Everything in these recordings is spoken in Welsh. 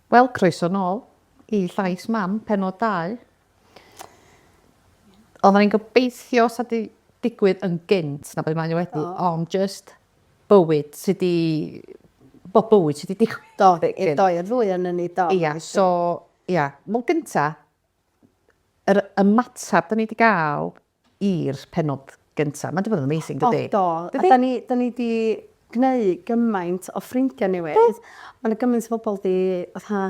Wel, croeso nôl i Llais Mam, penod 2. Oedden ni'n gobeithio sa di digwydd yn gynt na beth mae wedi, ond just bywyd sydd di... Bo bywyd sydd di digwydd. Do, i'r doi o'r ddwy yn ni, do. Ia, so, ia. Wel, gynta, yr ymateb da ni wedi gael i'r pennod gynta. Mae 'di bod yn amazing dydi? O do. Dydi? A 'da ni 'da ni 'di gneu' gymaint o ffrindia newydd. Do. Ma' 'na gymaint o bobol 'di fatha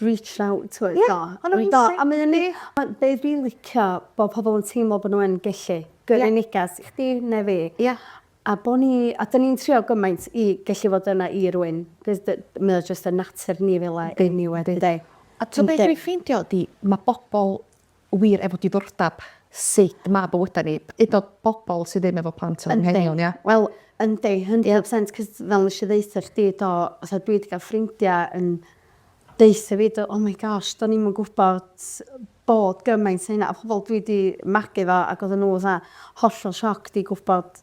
reached out to us do. Ie. Ma'n amazing. Do a mae o'n neu'... Ma' be' dwi licio bo' pobol yn teimlo bo' n'w yn gellu. Ie. Gyrru negas i chdi ne' fi. Ie. A bo' ni a 'dyn ni'n trio gymaint i gellu fod yna i rywun 'c'os dy- mae o jyst yn natur ni fel 'a eniwe dydi? Yndi. A t'o' be' dwi ffeindio ydi ma' bobol wir efo diddordab sut ma' bywyda ni, hyd yn o'd bobol sy ddim efo plant yn anghenion ia? Yndi. Wel yndi hundred percent 'c'os fel nesh i ddeutha chdi do fatha dwi 'di ga'l ffrindia yn deutha fi do oh my gosh do'n i'm yn gwbod bod gymaint o hynna a pobol dwi 'di magu 'fo ag odda n'w fatha hollol shocked i gwbod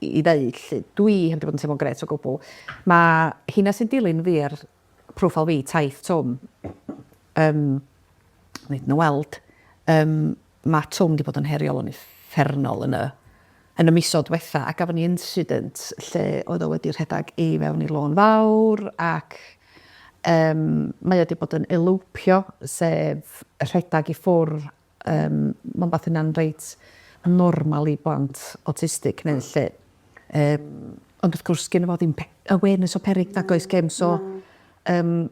i ddeud 'lly, dwi heb 'di bod yn teimlo'n grêt o gwbl. Ma' hynna sy'n dilyn fi ar profile fi, Taith Twm, yym, neith nw weld, yym, ma' Twm 'di bod yn heriol yn uffernol yn y yn y misodd dwetha, a gafon ni incident lle oedd o wedi rhedag i fewn i lôn fawr ac yym mae o 'di bod yn elopio, sef rhedag i ffwr' Yym, ma'n wbath hynna'n reit normal i blant awtistig neu 'lly. Yym, ond wrth gwrs gynno fo ddim pe- awareness o peryg nag oes gem so yym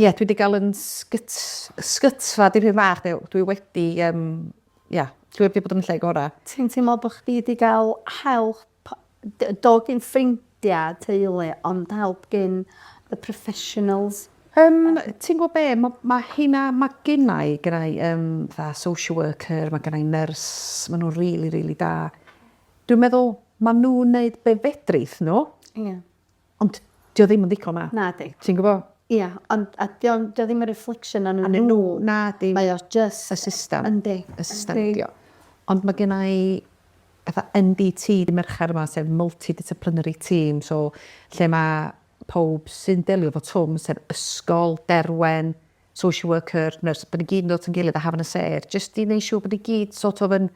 ie dwi 'di ga'l 'yn sgyt- sgytfa dipyn bach de w- dwi wedi yym ia dwi wedi bod yn y lle gora'. Ti'n teimlo bo' chdi 'di ga'l help Do gin ffrindia, teulu, ond help gin the professionals? Yym, ti'n gwybod be, ma, ma hynna, ma gynna i, gynna i um, fatha social worker, ma gynna i nurse, ma nhw'n really, really da. Dwi'n meddwl, ma nhw'n neud be fedrith nhw. Ie. Yeah. Ond 'di o ddim yn ddigon na? Nadi. Ti'n gwbo? Ia, ond a 'di o 'di o ddim yn reflection arnyn nhw... Arnyn nhw, nadi. ...mae o jyst... Y system. Yndi. Y system 'di o. Ond ma' genna i fatha MDT dy' Mercher 'ma sef multi-disciplinary team so lle ma' powb sy'n delio efo twm sef ysgol, Derwen, social worker, nurse, bod ni gyd yn dod yn gilydd a hafan y sêr, jyst i wneud siŵr bod ni gyd sort of yn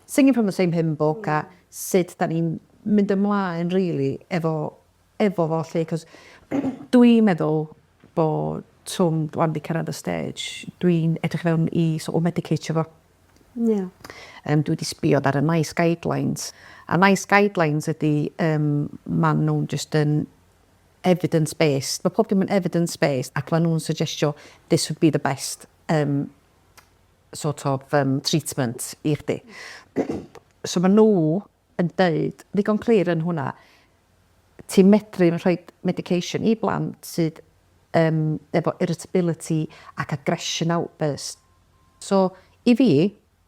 singing from the same hymn book a hmm. sut da ni'n mynd ymlaen, really, efo, efo fo, lle, cos dwi'n meddwl bod twm rwan wedi cyrraedd y stage, dwi'n edrych fewn i sort of medicatio fo. Yeah. Um, dwi wedi sbiodd ar y nice guidelines. A nice guidelines ydy, um, maen nhw'n just yn evidence based, mae pob dim yn evidence based ac mae nhw'n suggestio this would be the best um, sort of um, treatment i chdi. so mae nhw yn dweud, ddigon clir yn hwnna, ti'n medru yn rhoi medication i blant sydd um, efo irritability ac aggression outburst. So, i fi,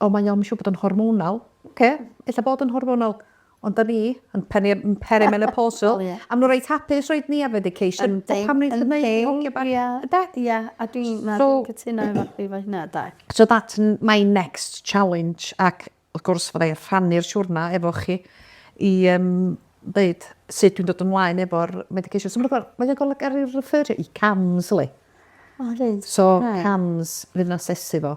O mae o'm siŵr bod o'n hormonal. Oce, ella bod yn hormonal. Ond 'da ni yn peri- yn perimenopausal. O ie. A ma' n'w reit hapus roid ni ar medication. Yndi yndi. Pam neith e neud i hogia bach. Ia. Ynde? Ia a dwi na dwi'n cytuno efo chdi efo hynna 'de. So that's n- my next challenge ac wrth gwrs fyddai rhannu'r siwrna efo chi i yym ddeud sut dwi'n dod ymlaen efo'r medication. So ma' 'na gor- mae o'n gorfod ga'l 'i refferio i Cams yli. O reit. So Cams fydd yn asesu fo.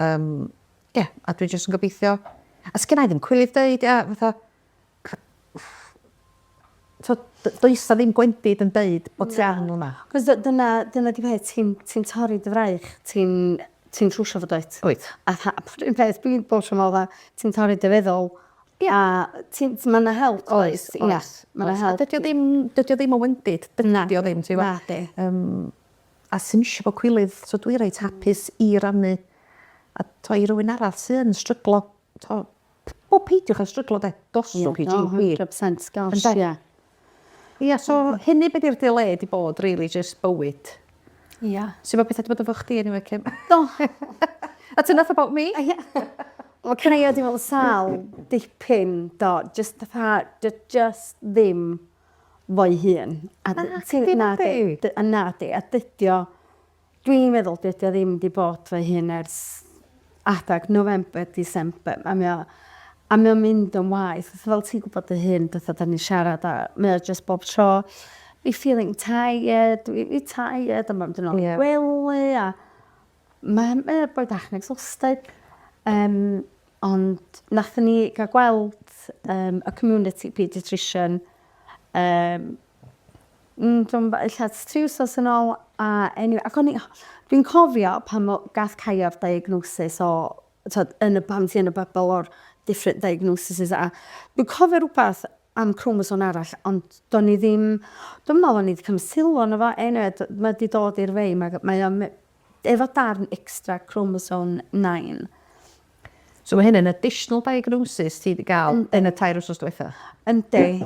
Yym, ie, a dwi jyst yn gobeithio... A sgynna i ddim cwilydd deud, ia, fatha... T'od, d- does 'na ddim gwendid yn deud bod ti arno yma. Cos dy- dyna, dyna 'di peth, ti'n, ti'n torri dy fraich, ti'n, ti'n trwsio fo dwyt? Wyt. A tha- a pwr un peth dwi'n bob tro me'wl 'tha, ti'n torri dy feddwl, a ti'n, t- ma' 'na help does? Oes, oes. Ia, ma' 'na help. A dydi o ddim, dydi o ddim yn wendid. Na. Dydi o ddim, ti wbo? Nadi. Yym. a sdim isio bod cwilydd so dwi reit hapus i rannu a t'o' i rywun arall sy yn stryglo t'o' p- wel peidiwch â stryglo 'de dos i Gee Pee. Ie hundred percent gosh ie. Ynde? Ia so hynny be' 'di'r delay 'di bod rili jyst bywyd. Ia. Su' ma' petha 'di bod efo chdi eniwe Kim? Do! That's enough about me. Ia. Wel can I add you all sal dipyn do jyst fatha 'di o jyst ddim fo'i hun. A d- ti'n... Nadi nadi. Nadi. Dy- a nadi a dydi o dwi'n meddwl dydi o ddim 'di bod fo'i hun ers adag November December a mae o a mae o'n mynd yn waeth fatha fel ti'n gwbod dy hun fatha 'dan ni'n siarad a mae o jyst bob tro fi feeling tired fi fi tired a ma' mynd yn ôl i'r gwely a Mae e boi bach yn exhausted yym ond nathon ni ga'l gweld yym y community paediatrician yym mm dwi'm yn gwbo ella ers tri wsos yn ôl a eniwe ac o'n i dwi'n cofio pan o- gath Caio 'r diagnosis o t'od yn y pam ti yn y bybl o'r different diagnoses a dwi'n cofio rwbath am cromosom arall ond do'n i ddim dwi'm yn me'wl o'n i 'di cymryd sylw arno fo eniwe d- ma' 'di dod i'r fei ma' mae o me- efo darn extra chromosome nine. So ma' hyn yn additional diagnosis ti 'di ga'l yn y tair wsos dwetha? Yndi.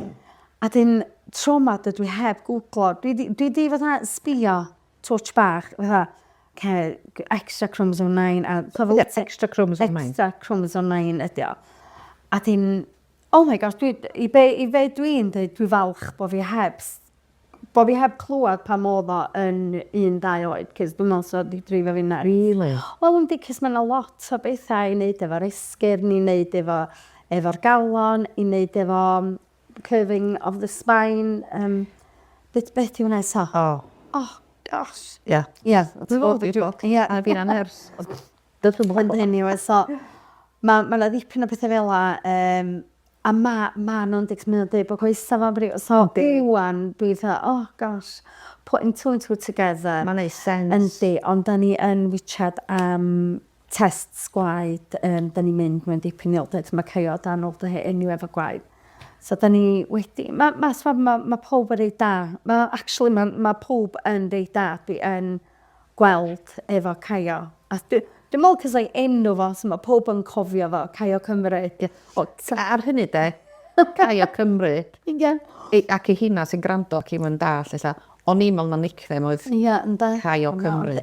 A 'dyn tro 'ma dydw i heb gwglo dwi 'di dwi 'di fatha sbïo touch bach fatha ce- g- extra chromosome nine a... T'o' fel... Ie extra chromosome nine. Extra chromosome nine ydi o. A 'dyn oh my gosh dwi d- i be' i fe dwi'n deud dwi falch bo' fi heb s- bo' fi heb clŵad pan o'dd o yn un dau oed 'c'os dwi me'wl sa fo 'di dreifio fi'n nyts. Rili? Wel yndi 'c'os ma' 'na lot o betha i neud efo'r esgyrn i neud efo efo'r galon i neud efo curving of the spine, um, beth, beth yw hwnna eto? O. Oh, gosh. Ie. Yeah. Ie. Yeah. Dwi'n gwybod beth yw. Ie. A fi'n anhers. Dwi'n gwybod hyn hyn yw, so, mae ma yna ddipyn o bethau fel la, um, a mae ma nhw'n dweud, mae nhw'n dweud bod coesa fo'n brif, so, iwan, dwi'n dweud, oh, gosh, putting two and two together. Mae'n ei sens. Yndi, ond da ni yn wychad am tests gwaed yym 'dan ni'n mynd mewn dipyn i ôl-dŷ ma' Caio a Dan ôl-dŷ heddiw efo gwaed so 'dan ni wedi ma' ma' so ma' ma' powb yn reit da ma' actually ma' ma' powb yn reit da dwi yn gweld efo Caio a dwi dwi me'wl 'c'os o'i enw fo so ma' powb yn cofio fo Caio Cymru. Ie o- so ar hynny 'de Caio Cymru. Ie. Ei ac ei hina sy'n grando ac 'im yn dallt ella O'n i'n meddwl na nickname oedd Cai o Cymru.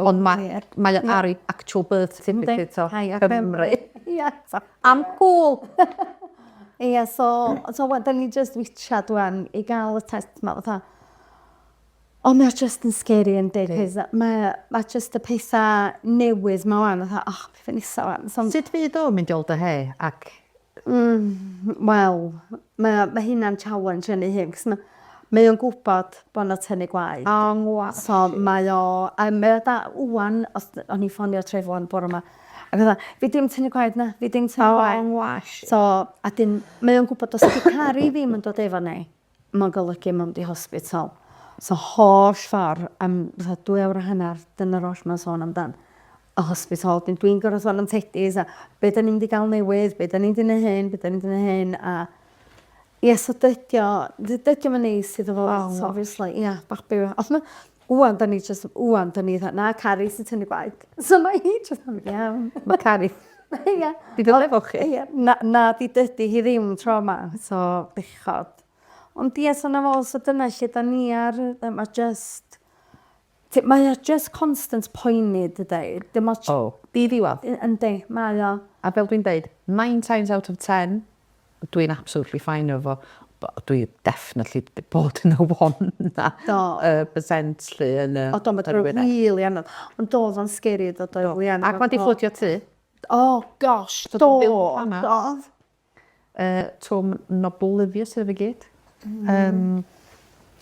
Ond mae o ar ei actual birth certificate o Cymru. Am cŵl! Ia, so, so wel, 'da ni jyst witchad ŵan i gael y test 'ma, fatha. Ond mae o jyst yn scary yndi, 'c'os mae o, mae jyst y petha newydd 'ma ŵan, fatha, o, be' nesa ŵan? Sut fydd o'n mynd i ôl dy hei, ac Hmm wel mae o ma' hynna'n challenge yn ei hun 'c'os ma' mae o'n gwbod bo' 'na tynnu gwaed. O yng ngwa-... So mae o yym mae o da ŵan os d- o'n i ffonio Trevor bore 'ma ag o'dd o fi dim tynnu gwaed na fi dim tynnu gwaed. O yng ngwash. So a 'dyn mae o'n gwbod os 'di caru ddim yn dod efo ni Mae'n golygu mewn du hospital. So holl ffordd am fatha dwy awr a hanner, dyna'r oll mae'n sôn amdan. Y hospital. Wedyn dwi'n gorfod sôn am Tedi's a be da ni'n mynd i gael newydd, be da ni'n mynd i neud hyn, be da ni'n mynd i neud hyn a ie so dydi o, dydi o'm yn neis iddo fo obviously, ia, babi yw e. Ond ma' Ŵan 'da ni jyst, ŵan 'da ni fatha, na, Cari sy'n tynnu gwaed. So mae hi jyst yn mynd, iawn. Mae Cari. Ia. Di dod efo chi. Ia. Na, na, di dydi hi ddim tro ma, so bechod. Ond ia, so na fo, so dyna lle 'da ni ar, yy, mae jyst, t- mae o jyst constant poeni, dydi? Dim ots... O, di ddiwadd. Y- yndi, mae o. A fel dwi'n deud, nine times out of ten, Dw i'n absolutely fine efo fo. Wel, dwi definitely 'di bod yn y one 'na. Do. Yy percent 'lly yn yy... O do, ma' dod yn rili anodd. Ond do, o'dd o'n scary do, do, oedd Leanne... Ac ma' 'di fflwdio tŷ. O gosh, do, do. Yy twm yn oblivious iddo fe i gyd. Yym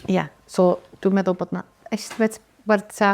ia, so dwi'n meddwl bod 'na estimate werth t'a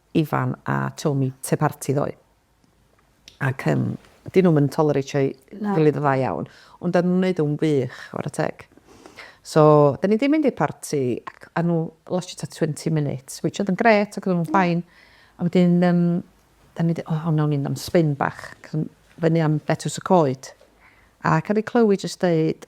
Ifan a Tomi te parti ddoe ac yym dyn nhw'm yn tolereitio'i gilydd yn dda iawn ond dan nhw'n wneud o'n wych chwarae teg. So dan ni 'di mynd i'r parti ac a nhw lastio tua twenty minutes which oedd yn grêt ac oedden nhw'n fine a wedyn yym dan ni 'di o wnawn ni fynd am sbin bach ac yn fyny am Betws y Coed ac o'n i'n clywed jyst deud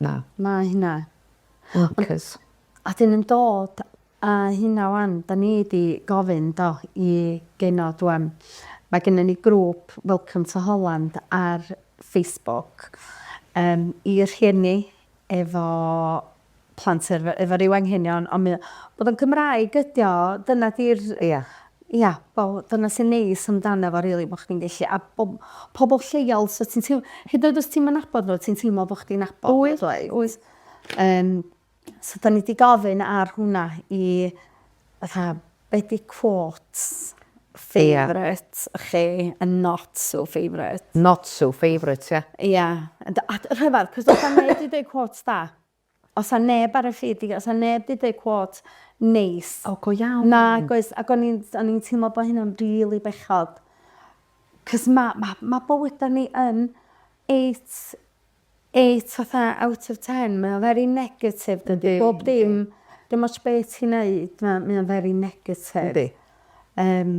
Na. Na hynna. Workers. A dyn yn dod a hynna wan, da ni di gofyn do i genod wan. Mae gynna ni grŵp Welcome to Holland ar Facebook yym i rhieni efo plant efo ryw anghenion ond mae o, bod o'n Gymraeg ydio, dyna di'r... Ia. Ia, wel dyna sy'n neis amdano fo rili bo' chdi'n gellu a bo' pobol lleol so ti'n teiml hyd yn oed os ti'm yn nabod n'w ti'n teimlo bo' chdi'n nabod... Wyt wyt. ...wyt. Yym so 'dan ni 'di gofyn ar hwnna i fatha be' 'di quote favourite chi and not so favourite. Not so favourite ia? Ia a dy- a rhyfedd 'c'os fatha neb 'di deud quote da. Os a neb ar y ffid di os a neb di deu cwot neis. O go iawn. Nag oes ac o'n i'n o'n i'n teimlo bo hynna'n rili bechod. Cos ma' ma' ma' bywyda ni yn eight eight fatha out of ten mae o very negative dydi? Bob dim dim ots be' ti'n neud ma' mae o'n very negative. Yndi. Yym.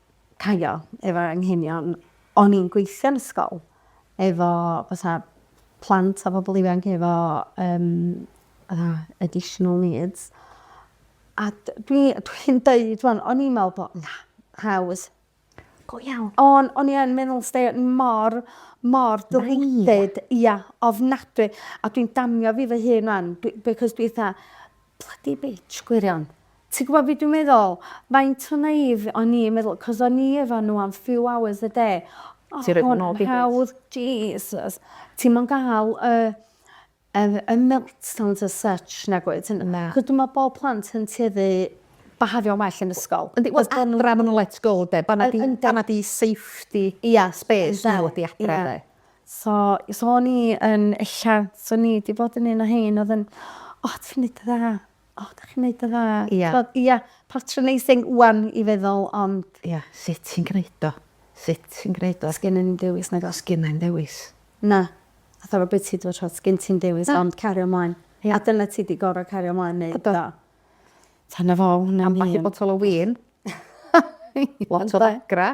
caio efo anghenion. O'n i'n gweithio'n ysgol efo fatha plant a pobl ifanc efo um, fatha additional needs. A dwi'n dwi deud, o'n i'n meddwl bod, na, haws, go iawn. O'n, on i yn meddwl stay mor, mor dylwyddyd, ia, ofnadwy. A dwi'n damio fi fy hun rwan, because dwi eitha, Bloody bitch, gwirion. Ti'n gwybod be dwi'n meddwl? Faint o naive o'n i yn meddwl, 'cos o'n i efo nhw am few hours a day. O, Ti roid hwn yn hawdd, Jesus. Ti'm yn gael y, y, y meltdowns as such, nag wyt? Na. Achos dwi'n meddwl bod plant yn tueddu bihafio'n well yn ysgol. Yndi, wel adra ma' nhw'n let go 'de? Fan'na 'di, fan'na 'di safety... Ia. ...space nhw ydi adra 'de? So, so o'n i yn ella, so o'n i 'di bod yn un o hein oedd yn, o, oh, ti'n neud y dda, o, oh, da chi'n neud y dda. Ia. So, ia, patronising wan i feddwl, ond... Ia, sut ti'n gwneud o? Sut ti'n gwneud o? Sgyn yn dewis, na go. Sgyn yn dewis. Na. A thaf o beth ti dwi'n rhoi, sgyn ti'n dewis, ond cario mlaen. Ia. A dyna ti di gorau cario mlaen, neu do. Tan y fo, hwnna'n un. Am bach i botol o win. Lot o ddagra.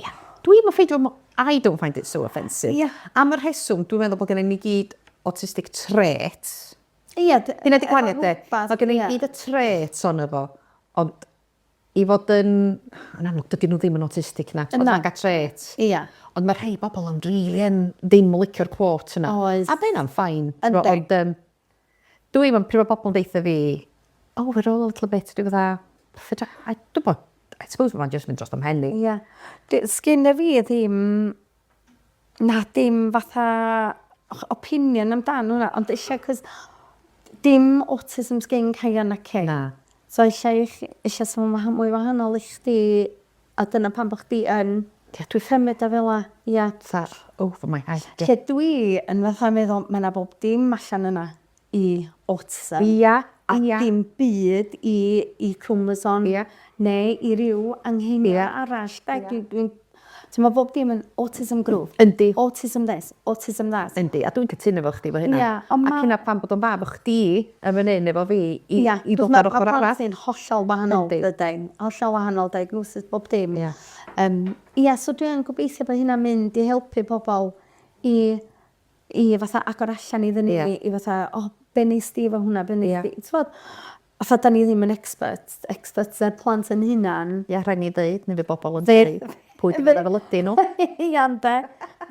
Ie. Dwi'm yn ffeindio mo- I don't find it so offensive. Ie. Am y rheswm dwi'n meddwl bod gennym ni gyd autistic traits. Ie d- Dyna 'di gwahaniaeth de? efo rwbath, Mae gennym ni ie. gyd y traits ono fo ond i fod yn yn amlwg dydyn nhw ddim yn autistic na. Ond Na. ma' 'na traits. Ia. Ond mae rhai bobl yn rili yn ddim yn licio'r quote yna. Oes. A mae hynna'n fine. Yndi. Ond yym Dw i'm yn pryd mae pobl yn deitha fi oh we're all a little bit dwi fatha fedra I dw bod I suppose mae'n jyst mynd dros fy mhen i. Ie. Dwi sgynna fi ddim na dim fatha ch- opinion amdan hwnna ond eisiau 'c'os dim autism sgin Kyan naci? Na. So eisiau i chi eisiau sôn waha- mwy wahanol i chdi A dyna pam bo' chdi yn Ie dwi ffyn myn a fela ia. Fatha over my head ie. Lle dwi yn fatha meddwl ma' 'na bob dim allan yna i autism. Ia ia. A dim byd i i chromosome. Ia. Neu i ryw anghenion arall 'de? Dwi dwi'n t'mo' bob dim yn autism group. Yndi. Autism this. autism that. Yndi, a dwi'n cytuno efo chdi efo hynna. Ia, ond ma'... Ac hynna pam bod o'n dda bo' chdi yn fan 'yn efo fi i i ddod ar ochor arall. Ia, achos ma' plant fi'n hollol wahanol dydyn? Hollol wahanol diagnosis bob dim. Ia. Yym, ia, so dwi yn gobeithio bo' hynna'n mynd i helpu pobol i i fatha agor allan iddyn ni i fatha, o, be' wnest ti efo hwnna, be' wnest ti... Ia. ...t'mod? A pha da ni ddim yn expert, experts ar plant yn hunan. Ia, rhaid ni ddeud, neu fe bobl yn dweud, pwy dyn nhw fel ydyn nhw. Ia, ynde.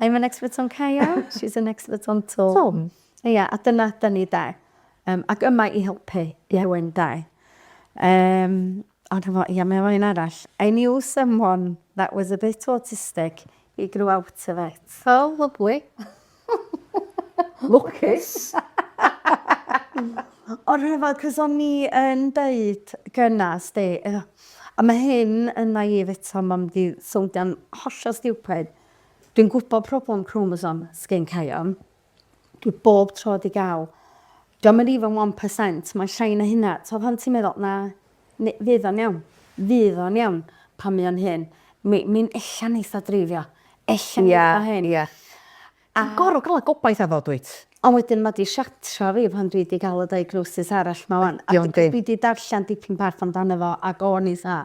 I'm an expert on Caio, she's an expert on Twm. Twm. Ia, a dyna da ni, de. Um, ac yma i helpu yeah. rhywun, de. Um, ond efo, ia, mae efo un arall. I knew someone that was a bit autistic, he grew out of it. Oh, lovely. Lwcus! O'r rhyfel, cos o'n i yn deud gyna, sdi, a mae hyn yn naïf eto, mae'n mynd i sowndian hollol stiwpid, dwi'n gwybod problem cromosom sgin Caion, dwi bob tro di gael, diom yn even one percent, mae'n llai na hynna, t'o' pan ti'n meddwl, na, N- fydd o'n iawn. Fydd o'n iawn. Pan mae o'n hŷn. Mi mi'n ella'n eitha dreifio. Ella'n Ie, eitha hŷn. ie. A... Ti'n gor'o' ga'l y gobaith 'na ddo dwyt? Ond wedyn ma' 'di siartro fi pan dwi 'di ga'l y diagnosis arall 'ma ŵan. Ydi o yndi? A dwi 'di darllen dipyn bach amdano fo ac o'n i 'tha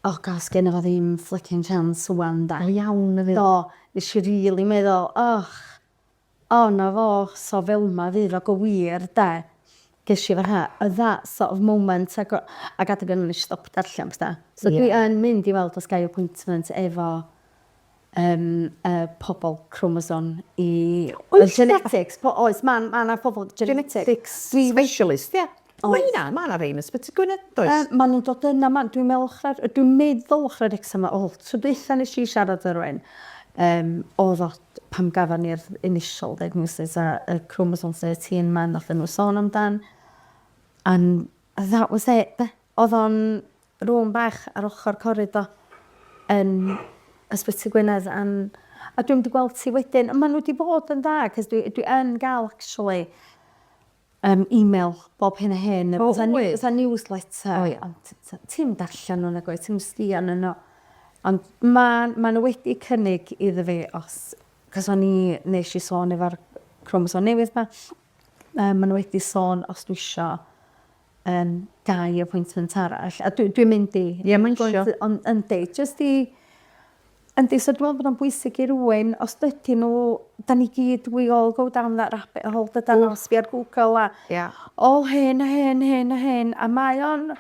o gosh sgenno fo ddim fliccin chance ŵan 'de? Go iawn efyd. Do. Nesh i rili meddwl och. O 'na fo, so fel'ma fydd o go wir 'de? Gesh i fatha yy that sort of moment ag o- ag adeg yna nesh i stop darllen petha. So dwi yn mynd i weld os gai appointment efo yym y pobol cromosom i... Oes genetics po- oes ma' ma' 'na pobol genetics... Genetics specialist ia. Mae hynna, mae yna rei yn Ysbyty Gwynedd, does? Yy, maen nhw'n dod yna, maen, dwi'n meddwl ochr, dwi'n meddwl ochr yr Exam a ôl. Tro dwytha nes i siarad ar rhywun, um, oedd o, pam gafon ni'r initial diagnosis a y chromosome 13 ma'n nath nhw sôn amdan. And that was it, de. Oedd o'n rhwng bach ar ochr corrid o yn Ysbyty Gwynedd am... A dwi'n mynd i gweld ti wedyn, a maen nhw wedi bod yn dda, cos dwi, dwi yn gael, actually, Yym email bob hyn a hyn. O wyt. Fatha newsletter. O ia. Ond ti'm darllen nhw nag wyt? Ti'm sbio arnyn nhw. Ond ma'n maen nhw wedi cynnig iddo fi os... Cos o'n i... Nes i sôn efo'r cromosom newydd 'ma. Yy maen nhw wedi sôn os dwi isio yym dau appointment arall. A dwi dwi'n mynd i... Ie mae'n isio. ...ond yndi jyst i Yndi so dwi me'wl bod o'n bwysig i rywun os dydyn n'w 'dan ni gyd we all go down that rabbit hole dydan o sbïo ar Google a... Ia. ...o hyn a hyn hyn a hyn a mae o'n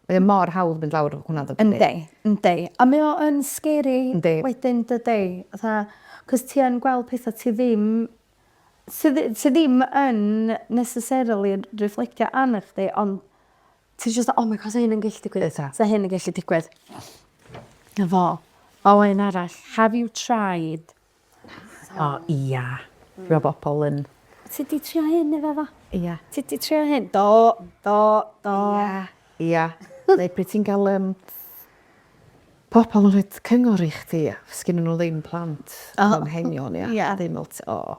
Mae o mor hawdd mynd lawr hwnna yndydi? Yndi yndi a mae o yn scary... Yndi. ...wedyn dydi? Fatha 'c'os ti yn gweld petha ti ddim sy ddi- sy ddim yn necessarily'n refflectio arnach chdi on' Ti jyst fel oh my God 'sa hyn yn gellu digwydd. Bysa. 'Sa hyn yn gellu digwydd. 'Na fo. O un arall. Have you tried... O ia. Dwi me'wl bo' pobol yn... Ti 'di trio hyn efo fo? Ia. Ti 'di trio hyn? Do. Do. Do. Ia. Ia. Neu pryd ti'n ga'l yym pobol yn rhoid cyngor i chdi a sgennyn n'w ddim plant. O. Anghenion ia. Ia. Ddim ots o.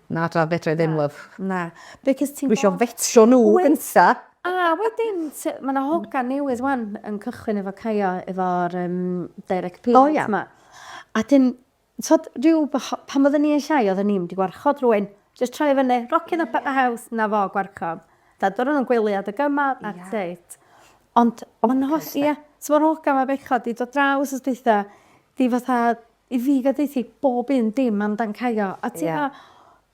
Na dad fedrai ddim love. Na because ti'n gwbo... Dwi isio fetio nhw gynta. A wedyn t- ma' 'na hogan newydd wan yn cychwyn efo Caio efo'r yym direct payment 'ma. O ia. A 'dyn t'od ryw bach pan odden ni yn llai odden ni'm 'di gwarchod rywun. Jyst troi fyny rockin up at the house 'na fo gwarchod. T'od o' nw'n gwely adeg yma that's it. Ond ma' 'na holl ia so ma'r hogan 'ma bechod 'di dod draw wsos dwytha 'di fatha I fi ga deuthu bob un dim am dan Caio a ti fel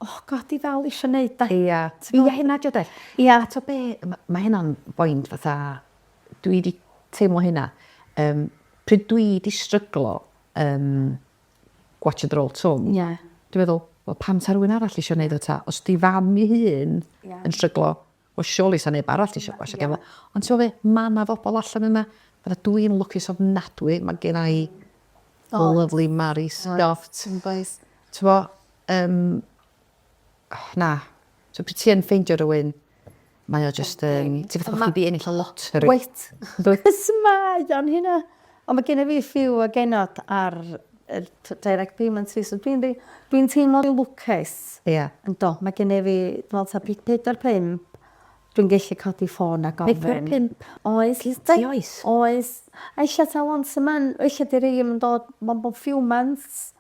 oh God dwi dal isio neud de. Ia ia hynna dio de. Ia a t'o be ma' ma' hynna'n boint fatha dwi di teimlo hynna yym pryd dwi di stryglo yn gwatsiad yr ol twm dwi meddwl wel pam sa rywun arall isio neud o ta os di fam i hun yn stryglo Wel surely sa neb arall isio gwasio gefn gwlad. Ond t'mo' be', ma' 'na fobol allan yna, fatha dw i'n lwcus ofnadwy, ma' genna i the lovely Mari Scott. Oes. T'mo' yym na. So pryd ti yn ffeindio rywun mae o jyst yn ti fatha bo' chdi 'di ennill y loteri. Wyt. Wyt. Su' mae o'n hynna? Ond mae gennyf fi few o genod ar yr direct payment fi so dwi'n rei- dwi'n teimlo rei lwcus. Ie. Yndw mae gennyf fi dwi me'wl ta ped- pedwar pump dwi'n gellu codi ffôn a gofyn. Pedwar pump oes ti oes. Oes. A ella ta once a mon- o ella 'di rei 'im yn dod mond bob few months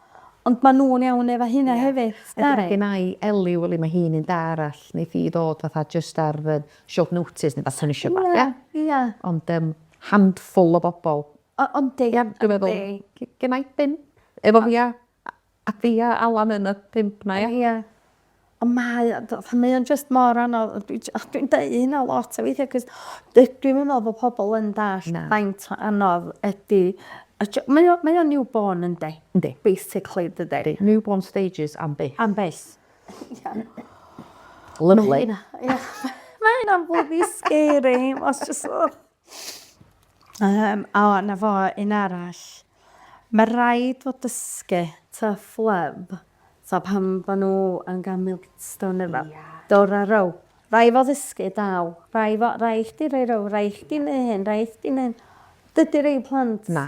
ond ma' nw'n iawn efo hynna hefyd. Ie. Nari? Mae gennai Ellie weli ma' hi'n un da arall neith hi ddod fatha jyst ar fy short notice ne' wbath so nesh i fatha... Ia ia. Ond yym handful o bobl. O- yndi, Ie, dwi'n meddwl. yndi. G- Genna i bump efo fi a a a fi a Alan yn y pump 'na ia? Ia. Ond mae o fatha mae o'n jyst mor anodd a dwi j- a dwi'n deu hynna lot a weithia' 'c'os dydw i'm yn me'wl bo' pobol yn dallt... Na. ...faint o anodd ydi y jo- mae o mae o'n new born yndi? Yndi. Basically dydi? Yndi. New born stages am byth. Am byth. Ia. Lyfli. Mae hynna'n bloody scary. Os just... Um, o, na fo, un arall. Mae rhaid fod dysgu ta ffleb, ta pan bod nhw yn gael milstone neu fel. Yeah. Dor a row. Rai fo ddysgu daw. Rai fo, rai chdi rei row, rai chdi neu hyn, rai chdi neu hyn. Dydy rei plant... Na.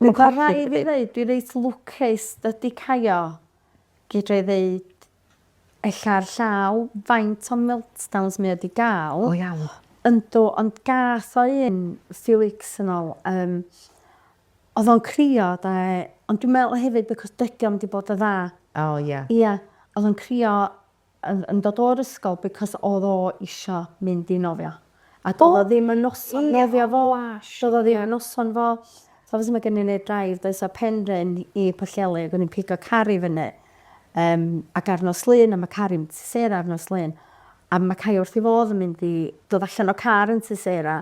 Dwi'n colli dy bib. Ma' rhai' fi ddeud dwi reit lwcus dydi Caio, fedrai ddeud ella ar llaw faint o meltdowns mae o 'di ga'l. Go iawn. Yndw ond gath o un few weeks yn ôl yym o'dd o'n crio 'de ond dwi'n meddwl hefyd because dydi o'm 'di bod y' dda. O ia. Ia o'dd o'n crio yn dod o'r ysgol because odd o isio mynd i nofio a do'dd o ddim yn noson nofio fo do'dd o ddim yn noson fo so obviously ma' gennyn ni'r drive does a Penrhyn i Pwllheli ag o'n i'n pigo car i fyny yym ac ar nos Lun a ma' car i'm tŷ Sarah ar nos Lun a ma' Cai wrth i fodd yn mynd i dod allan o car yn tŷ Sarah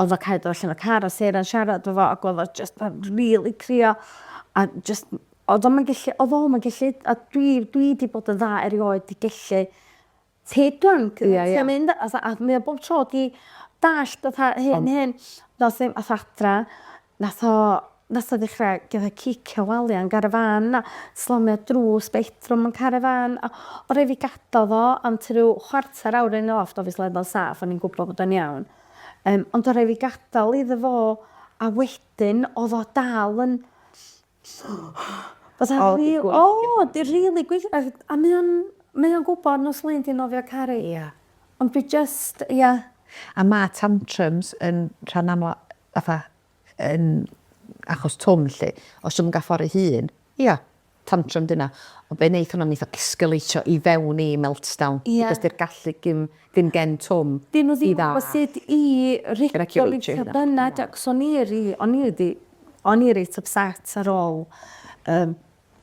o'dd o Cai dod allan o car a Sarah'n siarad efo fo ag o'dd o jyst fel rili crio a jyst Oedd o'm yn gellu, oedd o'm yn gellu, a dwi, dwi 'di bod yn dda erioed 'di gellu take drunk. Ia, ia. Ti am mynd, a a mae o bob tro 'di dallt fatha hyn, hyn. Nath ddim, ath adra, nath o, nath o ddechra fatha cicio walia yn garafan a slamio drws bedroom yn carafan a o' rei' fi gadal fo am tua ryw chwarter awr yn off do obviously o'dd o'n saff o'n i'n gwbo bod o'n iawn yym ond o' rei' fi gadal iddo fo a wedyn o'dd o dal yn Was that oh, real? Oh, di really gwych. A mae o'n, mae o'n gwybod nos Lyn di nofio caru. Ia. Yeah. Ond dwi just, ia. Yeah. A mae tantrums yn rhan amla, fatha, yn achos twm lle. Os yw'n gaffori hun, ia, yeah, tantrum dyna. Ond be wneud hwnna'n eitha escalateio i fewn i meltdown. Ia. Yeah. Because di'r gallu gym Ddim gen Twm Dyn nhw ddim yn gwybod sut i ricio fi tybed dyna Jacs o'n i ry- o'n i wedi o'n i reit ypset ar ôl yr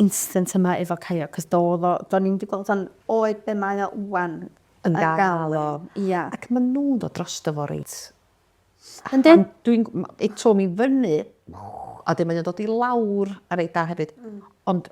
incident yma efo Caio cos do oedd o do'n i'm di gweld o'n oed be mae o ŵan yn gael o ia ac ma' nhw'n dod drosto fo reit yndi ond dwi'n gw- ma' Twm i fyny a wedyn mae o'n dod i lawr reit dda hefyd ond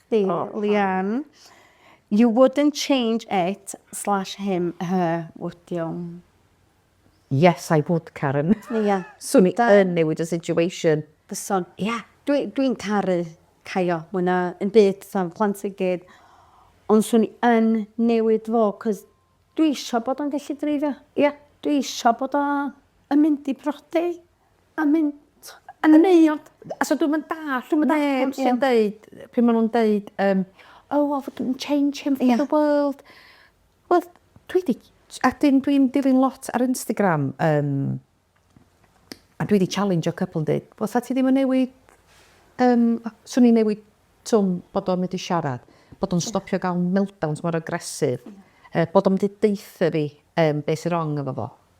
chdi, Leanne. You wouldn't change it slash him, her, would you? Yes, I would, Karen. Ia. Swn i yn newid y situation. Byson. Ia. Dwi, dwi'n caru Caio, mwy na yn byd, fatha fy plant i gyd. Ond swn i yn newid fo, cos dwi isio bod o'n gallu dreifio. Ia. Dwi isio bod o yn mynd i brodi. A mynd yn wneud... A so dwi'm yn dallt, dwi'm yn dallt pam sy'n deud, pryd maen nhw'n deud yym oh I wouldn't change him for the world. Wel dwi 'di... a dwi'n dwi'n dilyn lot ar Instagram yym a dwi 'di challengeio cwpl yn deud wel 'sa ti ddim yn newid yym 'swn i'n newid Twm bod o'n medru siarad, bod o'n stopio gael meltdowns mor aggressive, bod o'n medru deutha fi yym be sy'n wrong efo fo.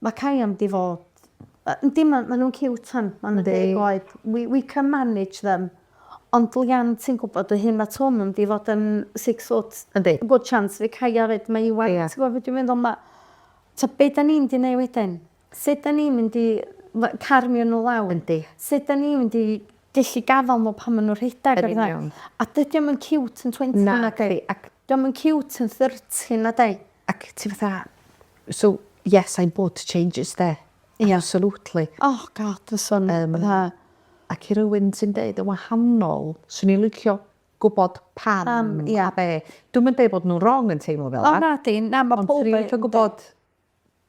Mae Cai am di fod. Yndi ma ma nhw'n ciwt tan ma nhw'n deg oed. We we can manage them. Ond Lian ti'n gwybod dy hun ma Twm am di fod yn six foot. Yndi. Good chance fydd Cai efyd mae Iwan ti'n gwybod be dwi'n meddwl ma ta be da ni'n mynd i neu wedyn? Sut da ni'n mynd i we- carmio nhw lawr? Yndi. Sut da ni'n mynd i gellu gafal nhw pan ma nhw'n rhedeg a petha? Yn union. A dydi o'm yn ciwt yn twenty nadi? Nadi ac... Dio'm yn ciwt yn thirty na 'di? Ac ti fatha so yes I would change it 'de. Ia. Absolutely. Oh God fysa'n fatha... Ac i rywun sy'n deud yn wahanol 'swn i'n licio gwbod pam... Pam ia. ...a be'. Dwi'm yn deud bod nw'n rong yn teimlo fela. O nadi na ma' powb yn... Ond 'swn i'n licio gwbod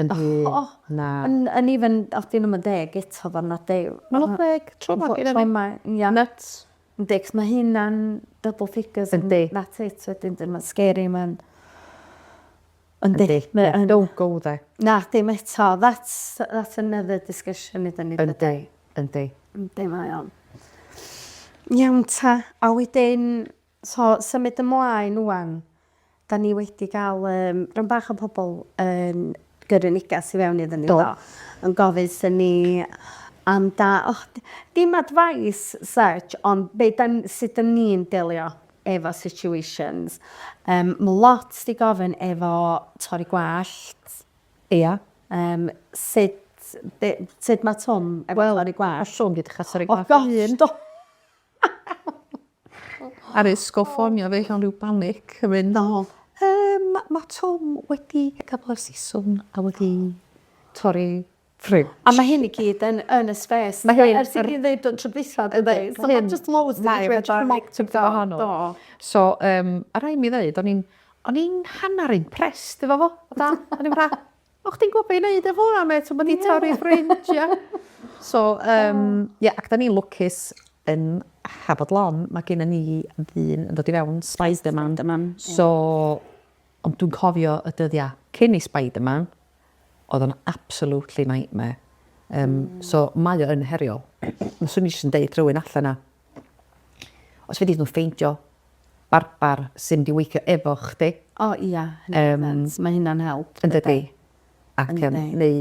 Yn rhy... O! Na. Yn yn even os 'di nw'm yn deg eto fo' 'na de- yy... Ma' 'na deg tro 'ma gyda fi. Mae ia. Nyts. Yndi 'c'os ma' hynna'n double figures... Yndi. ...that's it wedyn 'di ma'n scary ma'n... Yndi. Yndi. Mae yn... Don't go there. Na dim eto that's that's another discussion iddon ni dyde? Yndi yndi. Yndi mae o'n. Iawn 'ta a wedyn So, symud ymlaen ŵan, 'da ni wedi cael yym rhan bach o pobl yn gyrru negas i fewn iddyn ni, do, yn gofyn 'thyn ni am da- o, dim advice such, ond be' 'dan, sut 'dan ni'n delio efo situations. Yym, ma' lot 'di gofyn efo torri gwallt. Ia. Yym, sut, be', sut ma' Twm efo torri gwallt? Wel, hollol, dwi 'di cha'l torri gwallt fy hun. O gosh, do! arisg o ffonio fi mewn rhyw banic yn mynd o yym ma' Twm wedi gadal y siswrn a wedi torri ffriwj. A ma' hyn i gyd yn yn y spês. Ma' hyn ers i chi ddeud do tro dwytha do fe? So ma' jyst loads yn digwydd ar y tŷ gwahanol. Do. So yym a rai' mi ddeud o'n i'n o'n i'n hannar impressed efo fo. Fatha o'n i fatha O chdi'n gwbo be' i neud efo wnna mêt t'o' ma' 'di torri ffrynt ia. So yym ia ac 'dan ni'n lwcus yn Hafod Lon ma' gennon ni ddyn yn dod i fewn Spiderman so ond dwi'n cofio y dyddia cyn i Spiderman o'dd o'n absolutely nightmare yym so mae o yn heriol. Fyswn i jyst yn deud rhywun alle 'na Os fedri nhw ffeindio barbar sy'n mynd i weithio efo chdi. O ia, mae hynna'n help. Yndydi? Ac yym neu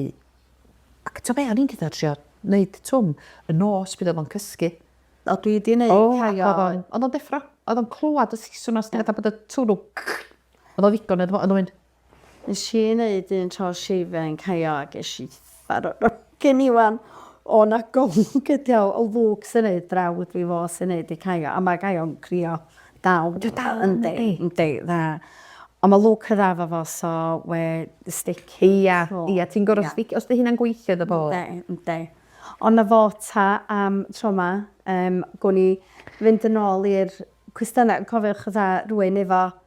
ac t'o' be' o'n i'n deu' tho trio neud twm y nos pryd o'dd o'n cysgu. O dwi 'di neud rhai o... O o'dd o'n deffro o'dd o'n clwad y siswrn 'na sdi fatha bod y twrw o'dd o ddigon iddo fo o'dd o'n mynd Nes i neud un tro shave yn Caio a gesh i farw gen i wan o na gonc ydi o o Luke sy'n neud brawd fi fo sy'n neud i Caio a ma Caio'n crio dal. Dwi dal yn yndi? Yndi yndi na on ma Luke yn dda fo fo so we the stick. Ia ia ti'n goro sdic- os di hynna'n gweithio iddo fo. Yndi yndi on na fo ta am tro ma yym gown ni fynd yn ôl i'r cwestyna cofiwch fatha rwy'n efo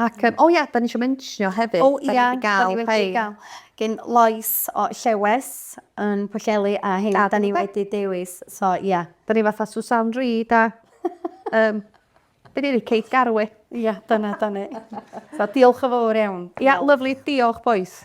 Ac, um, o ia, da ni eisiau mentionio hefyd, oh, da ni wedi gael rhai. Gyn Lois o Llewes yn Pwllheli a hyn, da ni wedi dewis, so ia. Yeah. Da ni fatha Susan Reid a, um, be di Kate Garwe. Ia, yeah, dyna, da ni. so diolch o fawr iawn. Ia, yeah, lovely, diolch boys.